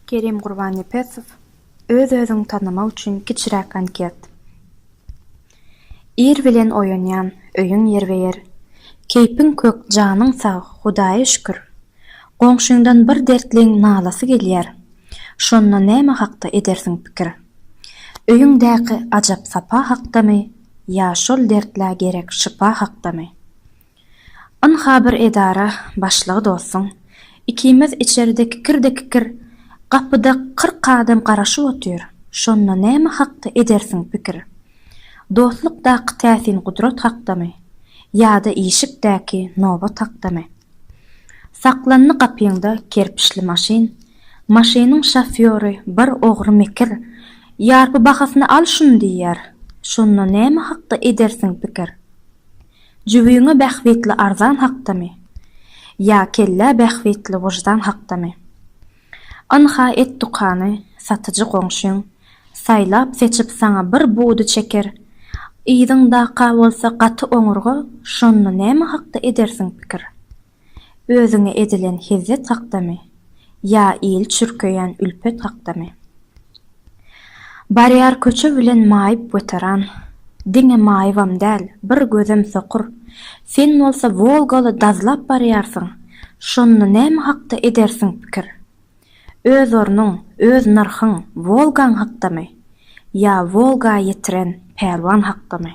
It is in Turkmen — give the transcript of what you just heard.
Kerim Gurbannepesow, Öz-özüňi tanamak üçin kiçiräk anket. Ir bilen oýanýan, öýüň ýerbe-ýer. Keýpiň kök, janyň sag, Hudaýa şükür. Goňşyňdan bir dertliň nalasy gelýär. Şonda näme hakda edersiň pikir? Öýüňdäki ajap sapa hakdamy ýa şol dertlä gerek şypa hakdamy? Ynha bir edara başlygy dostum, ikimiz içerde kikirde kikir, gapyda kyrk adam garaşyp otyr, şonda näme hakda edersiň pikir? Dostlukdaky täsin gudrat hakdamy? Ýa-da işikdäki nobat hakdamy? Saklandy gapyňda kerpiçli maşyn, maşynyň şofýory bir ogry mekir, Ýarpy bahasyna al şuny diýýär, şonda näme hakda edersiň pikir? Jübüňe bähbitli arzan hakdamy? Ýa kellä bähbitli wyždan hakdamy? Ynha et dukany, satyjy goňşyň, saýlap-seçip saňa bir budy çeker, yzyňdaka bolsa gaty oňurga, şonda näme hakda edersiň pikir? Özüňe edilen hezzet hakdamy? Ýa il çürkeýän ülpet hakdamy? Barýar köçe bilen maýyp weteran, Diňe maýybam däl, bir gözem sokur. Sen bolsa Wolgaly dazlap barýarsyň, Şonda näme hakda edersiň pikir? Öz ornuň, öz nyrhyň Wolgaň hakdamy? Ýa Wolga ýetiren pälwan hakdamy?